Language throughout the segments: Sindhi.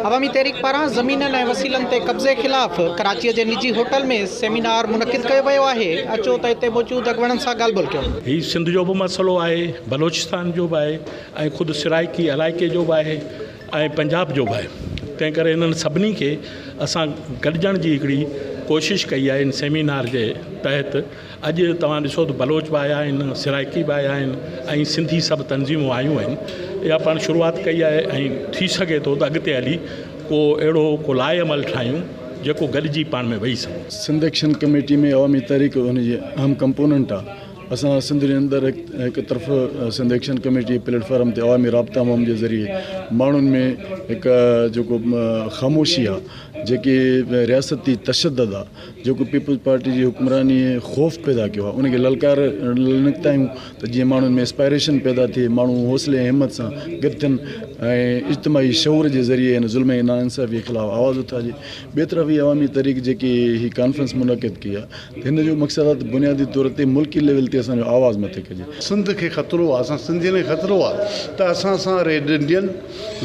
عوامي تحريڪ پاران زمينن ۽ وسيلن تي قبضي خلاف ڪراچيء جي نجي هوٽل ۾ سيمينار منعقد ڪيو ويو آهي، اچو ته اتي موجود اڳواڻن سان ڳالهه ٻولهه ڪيون. هي سنڌ جو به مسئلو آهي، بلوچستان جو به آهي ۽ خود سرائڪي علائقي جو به آهي ۽ پنجاب جو به آهي، تنهن ڪري انهن سڀني کي اسان گڏجڻ جي هڪڙي ڪوشش ڪئي آهي ان سيمينار جي تحت. اڄ توهان ڏسو ته بلوچ به آيا آهن، سرائيڪي به آيا آهن ۽ سنڌي سڀ تنظيمون آيون آهن. اها پاڻ شروعات ڪئي آهي ۽ ٿي سگهي ٿو ته اڳتي هلي ڪو اهڙو ڪو لائحه عمل ٺاهيون جيڪو گڏجي پاڻ ۾ ويهي سگهون. سنڌ ايڪشن ڪميٽي ۾ عوامي تحريڪ ان جي اهم ڪمپوننٽ آهي. اسان سنڌ جي اندر هڪ طرف سنڌ ايڪشن ڪميٽي جي پليٽ فارم تي عوامي رابطا عموم جي ذريعي ماڻهن ۾ هڪ جيڪو خاموشي آهي جيڪي رياستي تشدد آهي، جيڪو پيپلز پارٽي جي حڪمرانيء خوف پيدا ڪيو آهي، ان کي للڪارڻ لاء نڪتايون ته جيئن ماڻهن ۾ اسپائريشن پيدا ٿئي، ماڻهو حوصلي ۽ همت سان گڏ ٿين ۽ اجتماعي شعور جي ذريعي هن ظلم ۽ ناانصافيء خلاف آواز اٿارجي. ٻئي طرف هي عوامي تحريڪ جيڪي هي ڪانفرنس منعقد ڪئي آهي، ته هن جو مقصد آهي ته بنيادي طور تي ملڪي ليول تي اسان جو آواز مٿي ڪجي. سنڌ کي خطرو آهي، اسان سنڌين کي خطرو آهي ته اسان سان ريڊ انڊين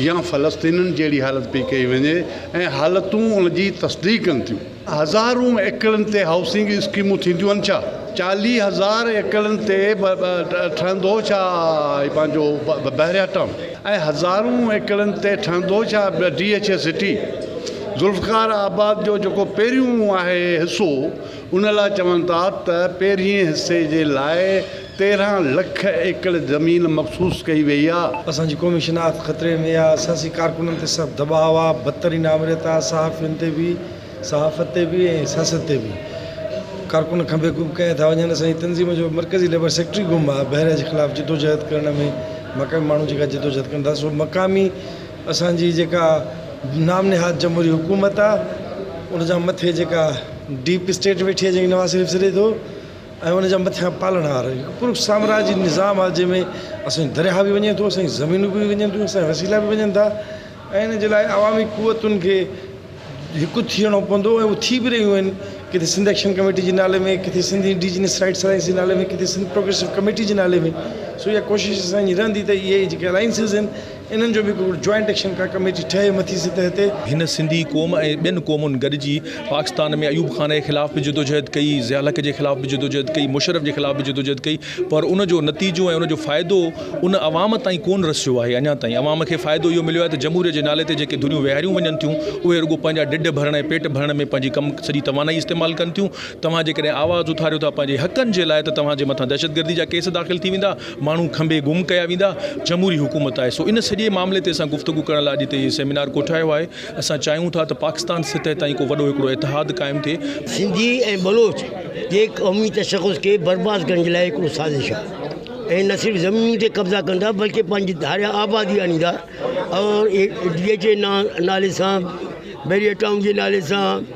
يا فلسطينين جهڙي حالت پئي ڪئي وڃي ۽ حالتون ان جي تصديق ڪن ٿيون. هزارون ايڪڙن تي هائوسنگ اسڪيمون ٿينديون ڇا؟ چاليهه هزار ايڪڙن تي ٺهندو ڇا هي پنهنجو بحريا ٽائون ۽ هزارون ايڪڙن تي ٺهندو ڇا D H A city? Zulfiqarabad جو جيڪو پهريون آهي حصو ان لاء چون ٿا ته پهرئين حصي جي لاء تيرهن لک ايڪڙ زمين مخصوص ڪئي وئي آ. اسان جي قومي شناخت خطري ۾ آ، سياسي ڪارڪنن تي سخت دٻاء آ، بدترين آمريت آ، صحافين تي به، صحافت تي به ۽ سياست تي به ڪارڪن کنڀي ڪوڀ ڪيا ٿا وڃن، اسان جي تنظيم جو مرڪزي ليبر سيڪريٽري گم آ، بحريه جي خلاف جدوجهد ڪرڻ ۾ مقامي ماڻهو جيڪا جدوجهد ڪن ٿا سو مقامي اسان جي جيڪا نام نهاد جمهوري حڪومت آ ان جا مٿي جيڪا ڊيپ اسٽيٽ ويٺي آ جنهن کي نواز شريف سڏي ٿو. ۽ ان جا مٿيان پالڻهار هڪ پر سامراجي نظام آهي جنهن ۾ اسان جي درياهه به وڃي ٿو اسان جي زمينون به وڃن ٿيون اسان جا وسيلا به وڃن ٿا ۽ ان جي لاء عوامي قوتن کي هڪ ٿيڻو پوندو ۽ اهو ٿي به رهيون آهن ڪٿي سنڌ ايڪشن ڪميٽي جي نالي ۾ ڪٿي سنڌ انڊيجنس رائٽس الائنس جي نالي ۾ ڪٿي سنڌ پروگريسو ڪميٽي جي نالي ۾ سو اها ڪوشش اسان جي رهندي ته اهي جيڪي الائنسز آهن انهن جو به هڪ جوائنٽ ايڪشن ڪا ڪميٽي ٺهي مٿي سطح تي. هن سنڌي قوم ۽ ٻين قومن گڏجي پاڪستان ۾ ايوب خان جي خلاف به جدوجهد ڪئي، ضياء الحق جي خلاف به جدوجهد ڪئي، مشرف جي خلاف به جدوجهد ڪئي پر ان جو نتيجو ۽ ان جو فائدو ان عوام تائين ڪون رسيو آهي اڃا تائين. عوام کي فائدو اهو مليو آهي ته جمهوريت جي نالي تي جيڪي ڌريون ويهاريون وڃن ٿيون اهي رڳو پنهنجا ڍڊ ڀرڻ ۽ پيٽ ڀرڻ ۾ پنهنجي ڪم سڄي توانائي استعمال ڪن ٿيون. توهان جيڪڏهن آواز اٿاريو ٿا پنهنجي حقن جي لاء ته توهان جي مٿان دهشتگردي جا ڪيس داخل ٿي ويندا. ماڻهو کنڀي گم ڪيا ويندا، جمهوري حڪومت آهي، سو ان سڄي معاملي تي اسان گفتگو ڪرڻ لاء اڄ هتي هي سيمينار ڪوٺايو آهي، اسان چاهيون ٿا ته پاڪستان سطح تائين ڪو وڏو هڪڙو اتحاد قائم ٿئي. سنڌي ۽ بلوچ جي قومي تشخص کي برباد ڪرڻ جي لاء هڪڙو سازش آهي ۽ نه صرف زمينن تي قبضا ڪندا بلڪه پنهنجي ڌاريان آبادي آڻيندا ۽ ڊي ايڇ اي نالي سان بيريا ٽائون جي نالي سان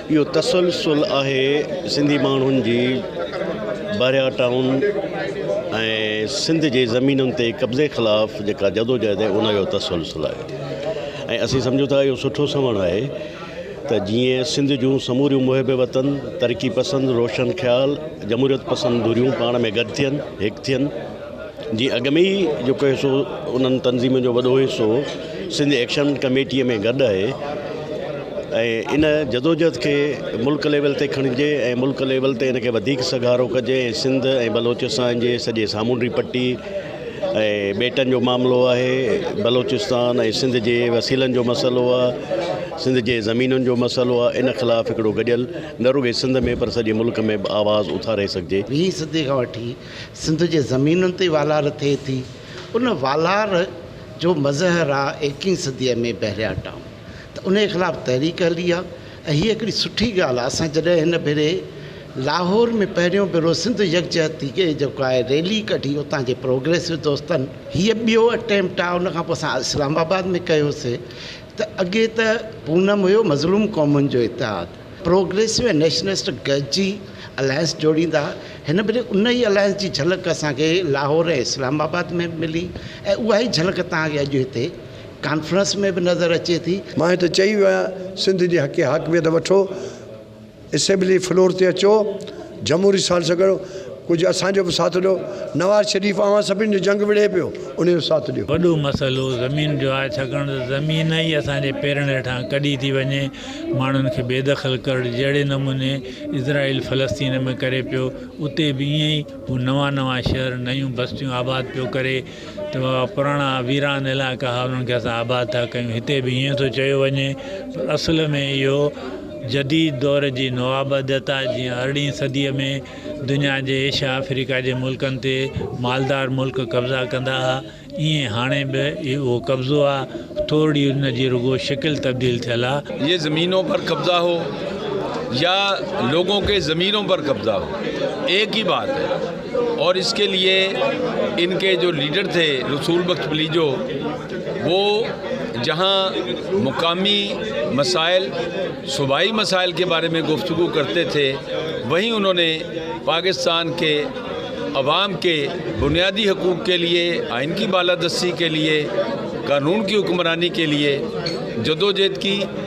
اهو تسلسل آهي سنڌي ماڻهن جي بحريا ٽائون ۽ سنڌ جي زمينن تي قبضي خلاف جيڪا جدوجهد آهي ان جو تسلسل آهي ۽ اسين سمجهون ٿا اهو سٺو سنئوڻ آهي ته جيئن سنڌ جون سموريون محب وطن، ترقي پسند، روشن خيال، جمهوريت پسند ڌريون پاڻ ۾ گڏ ٿين، هڪ ٿين. جي اڳ ۾ ئي جيڪو حصو انهن تنظيمن جو وڏو حصو سنڌ ايڪشن ڪميٽيء ۾ گڏ آهي ۽ ان جدوجهد کي ملڪ ليول تي کڻجي ۽ ملڪ ليول تي ان کي وڌيڪ سگهارو ڪجي ۽ سنڌ ۽ بلوچستان جي سڄي سامونڊي پٽي ۽ ٻيٽن جو معاملو آهي بلوچستان ۽ سنڌ جي وسيلن جو مسئلو آهي سنڌ جي زمينن جو مسئلو آهي ان خلاف هڪڙو گڏيل نه رڳي سنڌ ۾ پر سڄي ملڪ ۾ به آواز اٿاري سگهجي ويهين صدي کان وٺي سنڌ جي زمينن تي والار ٿئي ٿي. ان والار جو مظهر آ ايڪيهين صديء ۾ بحريا ٽائون ته انهيء خلاف تحريڪ هلي آ ۽ هيء هڪڙي سٺي ڳالهه آ. اسان جڏهن هن ڀيري لاهور ۾ پهريون ڀيرو سنڌ يڪجهتي جي جيڪو آهي ريلي ڪڍي اتان جي پروگريسو دوستن هيء ٻيو اٽيمپٽ آ ان کان پوء اسان اسلام آباد ۾ ڪيوسي ته اڳي ته پونم هيو مظلوم قومن جو اتحاد، پروگريسو ۽ نيشنلسٽ گڏجي الائنس جوڙيندا هن ڀيري ان ئي الائنس جي جهلڪ اسان کي لاهور ۽ اسلام آباد ۾ به ملي ۽ اها ئي جهلڪ توهان کي اڄ هتي ڪانفرنس ۾ به نظر اچي ٿي. مان هتي چئي ويو آهيان سنڌ جي حق حاڪميت وٺو اسيمبلي فلور تي اچو جمهوري سال سان گڏ ڪجهه اسان جو به ساٿ ڏيو. نواز شريف اوهان سڀني جو جنگ وڙهي پيو انهي جو ساٿ ڏيو. وڏو مسئلو زمين جو آهي ڇاڪاڻ ته زمين ئي اسان جي پيرن هيٺان ڪڍي ٿي وڃي ماڻهن کي بي دخل ڪرڙ جهڙي نموني اسرائيل فلسطين ۾ ڪري پيو اتي به ائين ئي هو نوان نوان شهر نيون بستيون آباد پيو ڪري ته اها پراڻا ويران علائقا هئا انهن کي اسان آباد ٿا ڪيون هتي به ائين ٿو چيو وڃي پر اصل ۾ اهو جديد دور جي نوآباديت آهي جيئن ارڙهين صديء ۾ دنيا جي ايشيا آفريڪا جي ملڪن تي مالدار ملڪ قبضا ڪندا هئا ائين هاڻي به اهو قبضو آهي ٿورڙي ان جي رڳو شڪل تبديل ٿيل آهي. يا زمينون پر قبضا هو يا لوگون ڪي زمينون پر قبضا هو ايڪ ئي بات هي. اور اس ڪي ليي ان ڪي جو ليڊر ٿي رسول بخش پليجو وو جهان مقامي مسائل صوبائي مسائل ڪي باري مي گفتگو ڪرتي ٿي وهين انهون ني پاڪستان ڪي عوام ڪي بنيادي حقوق ڪي ليي آئين ڪي بالادستي ڪي ليي قانون ڪي حڪمراني ڪي ليي جدوجهد ڪي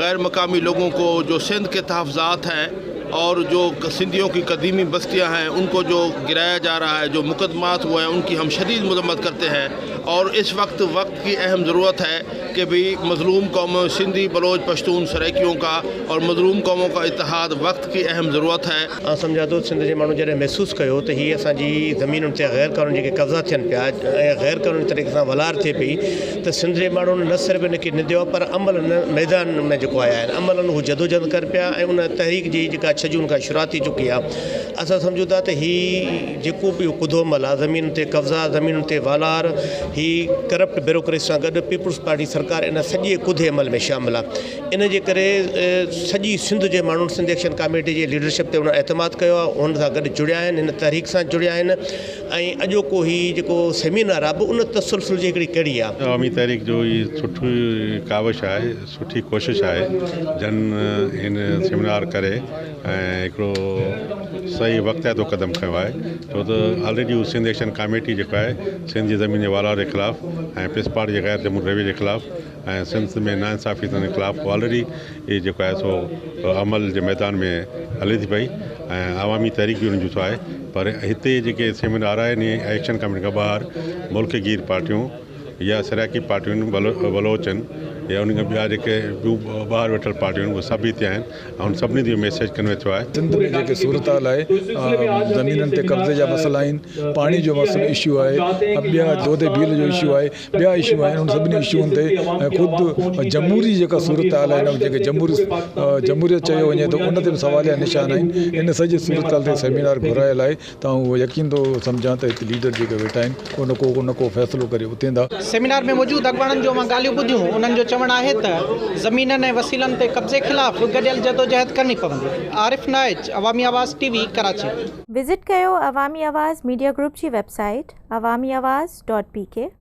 غير مقامي لوگون ڪو جو سنڌ ڪي تحفظات هي اور جو سنڌيون ڪي قديمي بستيان هي ان ڪو جو گرايا جا رها هي جو مقدمات هو هي ان ڪي هم شديد مذمت ڪرتي هي اور اس وقت وقت ڪي اهم ضرورت هي ڪي بي مظلوم قومون سنڌي بلوچ پشتون سرائيڪيون ڪا اور مظلوم قومون ڪا اتحاد وقت ڪي اهم ضرورت هي. آئون سمجهان ٿو سنڌ جي ماڻهن جڏهن محسوس ڪيو ته هي اسان جي زمينن تي غير قانوني جيڪي قبضا ٿين پيا ۽ غير قانوني طريقي سان ولار ٿئي پئي ته سنڌ جي ماڻهن نه صرف ان کي نديو آهي پر عمل ان ميدان ۾ جيڪو آيا آهن عملن هو جدوجهد ڪن پيا ۽ ان تحريڪ جي جيڪا ڇهه جون کان شروعات ٿي چڪي آهي اسان سمجهون ٿا ته هي جيڪو به ڪڌو مل آهي زمين تي قبضا زمين تي والار هي ڪرپٽ بيروڪريسي سان گڏ پيپلز پارٽي سرڪار ان سڄي ڪڌي عمل ۾ شامل آهي ان جي ڪري سڄي سنڌ جي ماڻهن سنڌ ايڪشن ڪاميٽي جي ليڊرشپ تي ان اعتماد ڪيو آهي ان سان گڏ جڙيا آهن ان تحريڪ سان جڙيا آهن ۽ اڄوڪو هي جيڪو سيمينار آهي به ان تسلسل جي هڪڙي ڪڙي آهي. عوامي تحريڪ جو هي سٺي ڪاوش آهي، سٺي ڪوشش آهي جن هن سيمينار ڪري ۽ هڪڙو صحيح وقتياتو قدم کنيو آهي ڇو ته آلريڊي هو سنڌ ايڪشن ڪاميٽي جيڪو آهي سنڌ جي زمين جي والار جي خلاف ۽ پسپاڙي جي غير جمهوري رويي جي خلاف ۽ سنڌ ۾ ناانصافي تنهن خلاف آلريڊي اهي جيڪو آهي سو عمل جي ميدان ۾ هلي ٿي پئي ۽ عوامي تحريڪ به ان جون آهي پر هتي جيڪي سيمينار آهن اهي ايڪشن ڪميٽي کان ٻاهر ملڪ گير پارٽيون يا سرائيڪي پارٽيون بلوچ ان يا ان کان ٻيا جيڪي ٻيون ٻاهر ويٺل پارٽيون اهي سڀ هتي آهن ۽ ان سڀني تي ميسيج ڪنوي ٿيو آهي سنڌ ۾ جيڪي صورتحال آهي زمينن تي قبضي جا مسئلا آهن پاڻي جو مسئلو اشو آهي ٻيا دودي بيل جو اشو آهي ٻيا اشو آهن ان سڀني اشون تي ۽ خود جمهوري جيڪا صورتحال آهي ان کي جمهوري جمهوريت چيو وڃي ٿو ان تي به سواليا نشان آهن ان سڄي صورتحال تي سيمينار گهرايل آهي ته آئون اهو يقين ٿو سمجهان ته هت ليڊر جيڪي ويٺا آهن ڪو نه ڪو نه ڪو فيصلو ڪري اٿين ٿا. سيمينار ۾ موجود اڳواڻن جو اوهان ڳالهيون ٻڌيون انهن جو چوڻ آهي ته زمينن ۽ وسيلن تي قبضي خلاف به گڏيل جدوجهد ڪرڻي پوندي عارف Naich Awami Awaz T V Karachi. Visit ڪيو عوامي آواز ميڊيا گروپ جي website Awami Awaz dot P ڪي.